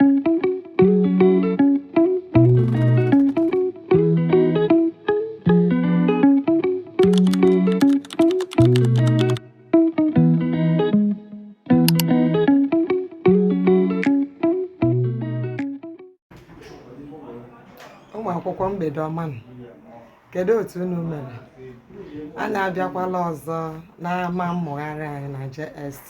ụmụ akwụkwọ mgbede ọma nụ. kedu otu unu mere anyị abịakwala ọzọ n'ama mmụgharị anyị na JST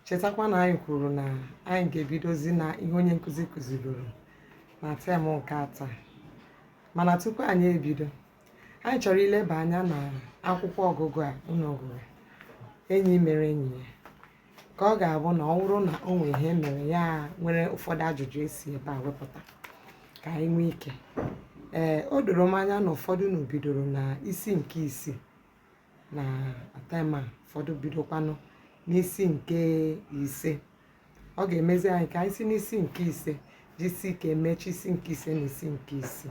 chetakwa na anyị kwuru na anyị ga-ebidozi na ihe onye nkụzi kụziburu na tem nke atọ mana tupu anyị ebido anyị chọrọ ileba anya na akwụkwọ ọgụgụ a unu gụrụ enyi mere enyi ya ka ọ ga-abụ na ọ bụrụ na o nwere ihe mere ya nwere ụfọdụ ajụjụ esi ebe a wepụta ka anyị nwee ike ee o doro m anya na ụfọdụ unu bidoro na isi nke isii na tem a ụfọdụ bidokwanụ n'isi nke ise ọ ga-emezi anyị ka anyị si n'isi nke ise jisi ike emechi isi nke ise na isi nke isii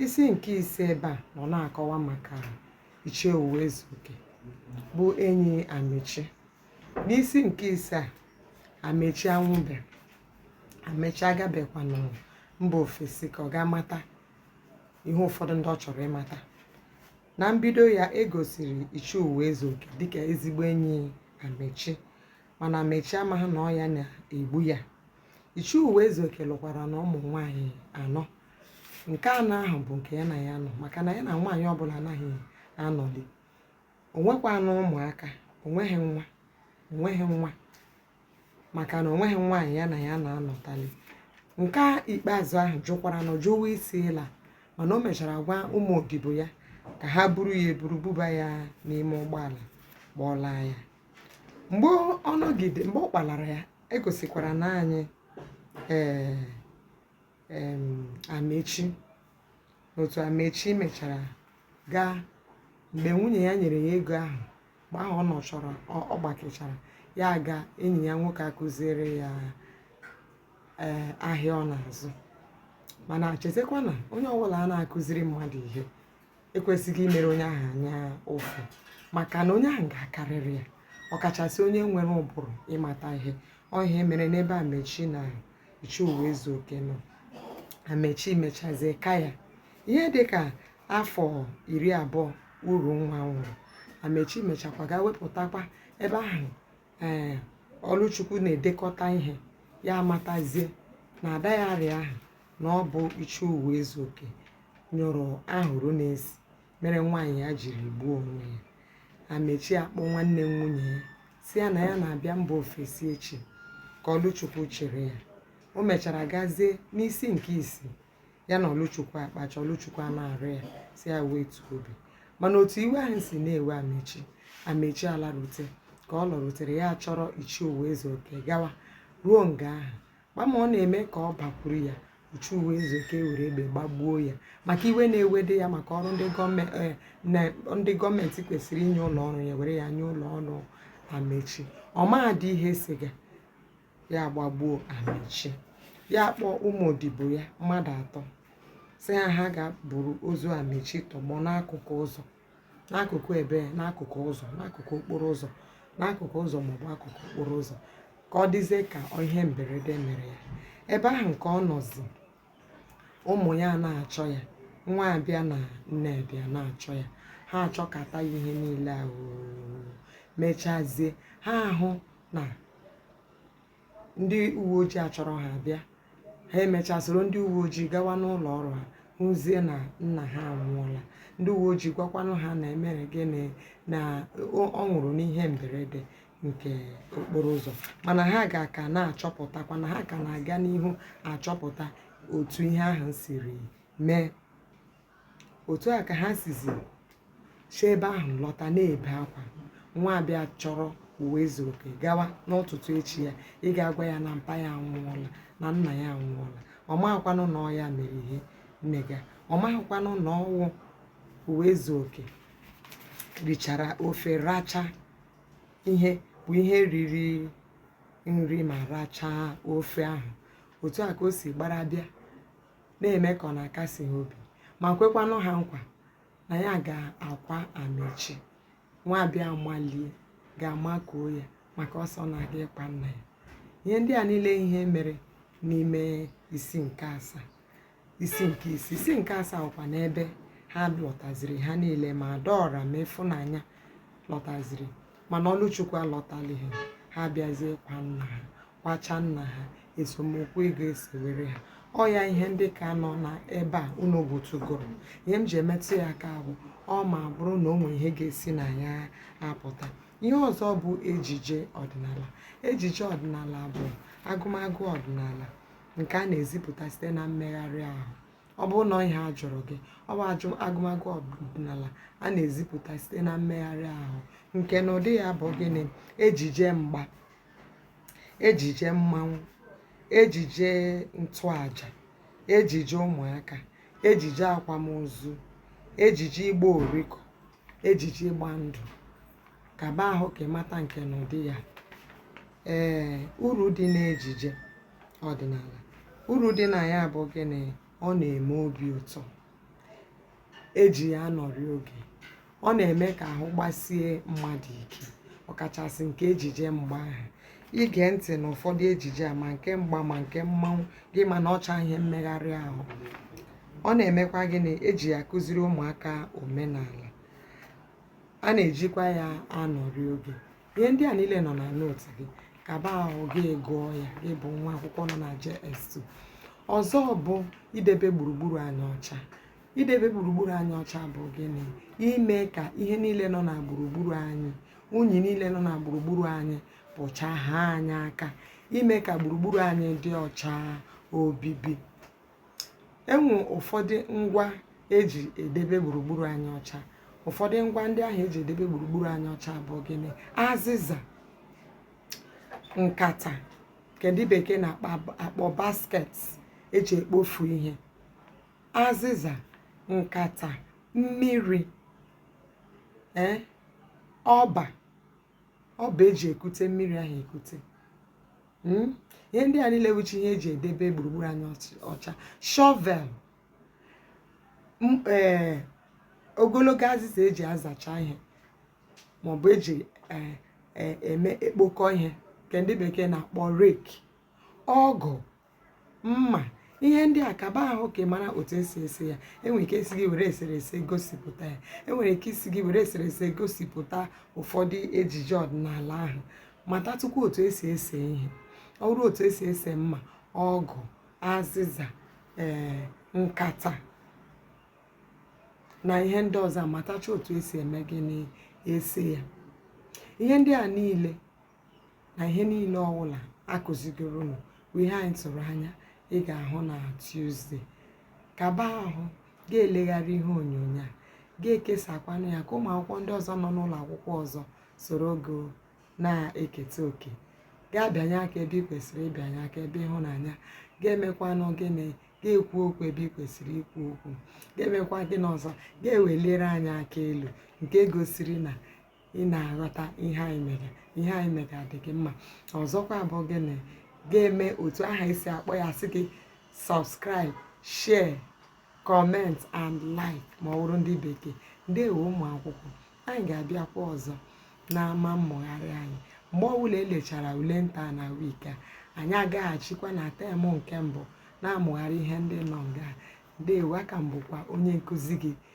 isi nke ise ebe a nọ na-akọwa maka Ichie Ụwaezuoke bụ enyi amechi n'isi nke ise a amechi anwụbe amechi agabekwanụ mba ofesi ka ọ ga-amata ihe ụfọdụ ndị ọ chọrọ ịmata na mbido ya e gosiri Ichie Ụwaezuoke dịka ezigbo enyi Amechi mana Amechi amaghị na ọ ya na-egbu ya Ichie Ụwaezuoke lụkwaranụ ụmụ nwaanyị anọ nke anọ ahụ bụ nke ya na ya nọ maka na ya na nwaanyị ọbụla anaghị anọli o nwekwanụ ụmụaka o nweghị nwa o nweghị nwa maka na o nweghị nwaanyị ya na ya na-anọtali nke a ikpeazụ ahụ jụkwaranụ jụwa isi ịla mana o mechara gwa ụmụ odibo ya ka ha buru ya eburu buba ya n'ime ụgbọala kpọlaa ya mgbe ọ nọgide mgbe ọ kpalara ya e gosikwara na anyị ee em, amechi otu Amechi mechara gaa mgbe nwunye ya nyere ya ego ahụ mgbe ahụ ọ nọchọrọ ọ gbakechara ya aga enyi ya nwoke akụziere ya ee eh, ahịa ọ na-azụ mana chetakwa na onye ọbụla a na-akụziri mmadụ ihe ekwesịghị imere onye ahụ anya ụfụ maka na onye ahụ ga-akarịrị ya ọkachasị onye nwere ụbụrụ ịmata ihe ọ ihe mere n'ebe Amechi na Ichie Ụwaezuoke nọ amechi mechazie ka ya ihe dị ka afọ iri abụọ Urunwa nwụrụ amechi mechakwa gaa wepụtakwa ebe ahụ ee ọlụchukwu na-edekọta ihe ya amatazie na diary ahụ na ọ bụ Ichie Ụwaezuoke nyụrụ ahụrụ na-esi mere nwaanyị ya jiri gbuo onwe ya amechi akpọọ nwanne nwunye ya sị ya na ya na-abịa mba ofesi echi ka ọlụchukwu chere ya o mechara gazie n'isi nke isii ya na ọlụchukwu akpachaa ọlụchukwu a na-arịọ ya sị ya wetu obi mana otu iwe ahụ si na-ewe amechi amechi alarute ka ọ lọrutere ya chọrọ ichie uwezuoke gawa ruo nga ahụ gbam ọ na-eme ka ọ bakwuru ya ichie uwezuoke ewere egbe gbagbuo ya maka iwe na-ewede ya maka ọrụ ndị gọọmenti kwesịrị inye ụlọ ọrụ ya were ya nye ụlọ ọrụ amechi ọ madị ihe siga ya gbagbuo amechi ya kpọọ ụmụ odibo ya mmadụ atọ sị ha ha gaa buru ozu amechi tọgbọ n'akụkụ ụzọ n'akụkụ ebe n'akụkụ ụzọ n'akụkụ okporo ụzọ n'akụkụ ụzọ maọbụ akụkụ okporo ụzọ ka ọ dịzie ka ihe mberede mere ya ebe ahụ nke ọ nọzi ụmụ ya na-achọ ya nwabịa na nnedị a na-achọ ya ha achọkata ya ihe niile ahụ mechazie ha ahụ na ndị uwe ojii achọrọ ha bịa ha emechaa soro ndị uwe ojii gawa n'ụlọ ọrụ ha hụzie na nna ha anwụọla ndị uwe ojii gwakwanụ ha na e mere gịnị na o- ọ nwụrụ n'ihe mberede nke okporo ụzọ mana ha ga ka na-achọpụtakwa na ha ka na-aga n'ihu achọpụta otu ihe ahụ siri mee otu a ka ha sizi si ebe ahụ lọta na-ebe akwa nwabịa achọrọ uwezuoke gawa n'ụtụtụ echi ya ịga agwa ya na mpa ya anwụọla na nna ya anwụọla ọ maghịkwanụ na ọ ya mere ihe mmega ọ maghịkwanụ na ọ wụ uwezuoke richara ofe rachaa ihe bụ ihe riri nri ma rachaa ofe ahụ otu a ka o si gbara bịa na-eme ka ọ na-akasi ha obi ma kwekwanụ ha nkwa na ya ga-akwa amechi nwabịa amalie gaa makuo ya maka ọ sị ọ na-aga ịkwa nna ya ihe ndị a niile ihe mere n'ime isi nke asaa isi nke isii isi nke asaa wụkwanụ ebe ha lọtaziri ha niile ma adaọra ma ịfụnanya lọtaziri mana ọlụchukwu alọtalighị ha abịazie kwaa nna ha kwachaa nna ha esemokwu ego esewere ha ọ ya ihe ndị ka nọ na ebe a unu gụtụgoro ihe m ji emetụ ya aka bụ ọ ma bụrụ na o nwere ihe ga-esi na ya apụta ihe ọzọ bụ ejije ọdịnala ejije ọdịnala bụ agụmagụ ọdịnala nke a na-ezipụta site na mmegharị ahụ ọ bụrụ na ihe a jụrụ gị ọ bụ ajụ agụmagụ ọdịnala a na-ezipụta site na mmegharị ahụ nkenụdị ya bụ gịnị ejije mgba ejije mmanwụ ejije ntụaja ejije ụmụaka ejije akwamozu ejije ịgba oriko ejije ịgba ndụ kaba ahụ ka ị mata nke na ụdị ya ee uru dị n'ejije ọdịnala uru dị na ya bụ gịnị ọ na-eme obi ụtọ eji ya anọrị oge ọ na-eme ka ahụ gbasie mmadụ ike ọkachasị nke ejije mgba ahụ ige ntị na ụfọdụ ejije a ma nke mgba ma nke mmanwụ gị ma na ọ wụcha ihe mmegharị ahụ ọ na-emekwa gịnị eji ya akụziri ụmụaka omenala a na-ejikwa ya anọrị oge ihe ndị a niile nọ na note gị kaba ahụ gị gụọ ya gị bụ nwa akwụkwọ nọ na JS2 ọzọ bụ idebe gburugburu anyị ọcha idebe gburugburu anyị ọcha bụ gịnị ime ka ihe niile nọ na gburugburu anyị unyi niile nọ na gburugburu anyị pụchaa haa anyị aka ime ka gburugburu anyị dị ọcha obibi enwe ụfọdụ ngwa eji edebe gburugburu anyị ọcha ụfọdụ ngwa ndị ahụ eji edebe gburugburu anyị ọcha bụ gịnị azịza nkata nke ndị bekee na-akpọ basket eji ekpofu ihe azịza nkata mmiri ee eh, ọba ọba eji ekute mmiri ahụ ekute hmm? ihe ndị a niile wụcha ihe eji edebe gburugburu anyị ọcha shovel ee eh, ogologo azịza eji azacha ihe maọbụ eji eh, eme ekpokọ ihe nke ndị bekee na-akpọ rake ọgụ mma ihe ndị a kaba ahụ ka ị mara otu esi ese ya enwere ike ịsị gị were eserese gosipụta ya enwere ike ịsị gị were eserese gosipụta ụfọdụ ejije ọdịnala ahụ matatụkwu otu esi ese ihe ọ bụrụ otu esi ese mma ọgụ azịza ee eh, nkata na ihe ndị ọzọ matacha otu esi eme gịnị ese ya ihe ndị a niile na ihe niile ọwụla akụzigoro unu bụ ihe anyị tụrụ anya ị ga-ahụ na Tuesday kaba ahụ ga-elegharị ihe onyonyo a ga-ekesakwanụ ya ka ụmụ akwụkwọ ndị ọzọ nọ n'ụlọ akwụkwọ ọzọ soro gị na-eketa oke ga-abịanye aka ebe ị kwesịrị ịbịanye aka ebe ịhụnanya ga-emekwanụ gịnị ga-ekwu okwu ebe ị kwesịrị ikwu okwu ga-emekwa gịnị ọzọ ga-ewelire anyị aka elu nke gosiri na ị na-aghọta ihe anyị mere ihe anyị mere adị gị mma ọzọkwa bụ gịnị ga-eme otu aha esi akpọ ya sị gị subscribe share comment and like ma ọ bụrụ ndị bekee ndewo ụmụ akwụkwọ anyị ga-abịakwa ọzọ n'ama mmụgharị anyị mgbe ọbụla elechara ule nta na week a anyị agaghachikwa na term nke mbụ na-amụgharị ihe ndị nọ nga ndewo aka m bụkwa onye nkụzi gị